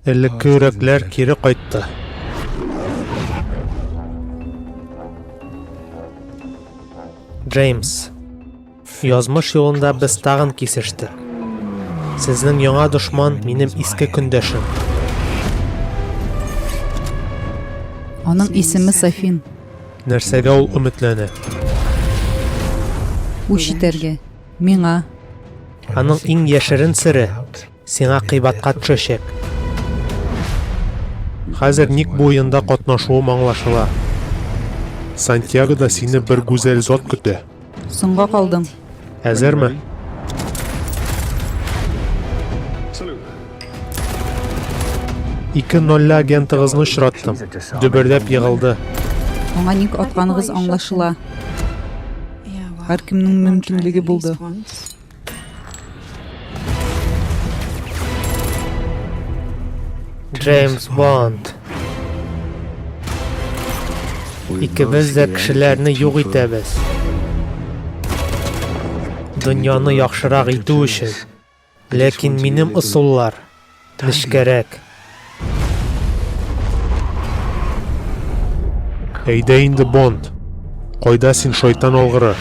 Элекке йөрәкләр кире кайтты. Джеймс Язмыш юлында без тагын кисештек. Сезнең яңа дошман минем иске көндәшем. Аның исеме Сафин. Нәрсәгә ул өметләнә? Үч итәргә. Миңа. Аның иң яшерен сере Сиңа кыйбатка төшәчәк. Хәзер ник бу уенда катнашуым аңлашыла. Сантьягода сине бер гүзәл зат көтә. Соңга калдың. Әзерме? Ике нолле агентыгызны очраттым. Дөбердәп егылды. Аңа ник атканыгыз аңлашыла. Һәркемнең мөмкинлеге булды. Джеймс Бонд. Икебез дә кешеләрне юк итәбез. Дөньяны яхшырак итү өчен. Ләкин минем ысуллар Нечкәрәк. Әйдә инде, Бонд. Кайда син, шайтан алгыры?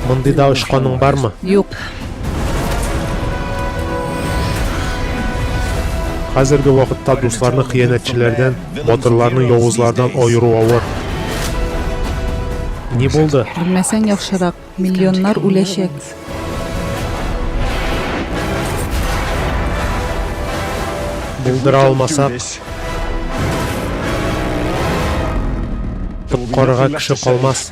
Мондый да очканың бармы? Юк. Хәзерге вакытта дусларны хыянәтчеләрдән Батырларны явызлардан аеру авыр. Ни булды? Белмәсәң яхшырак, миллионнар үләчәк. Булдыра алмасак, коткарырга кеше калмас.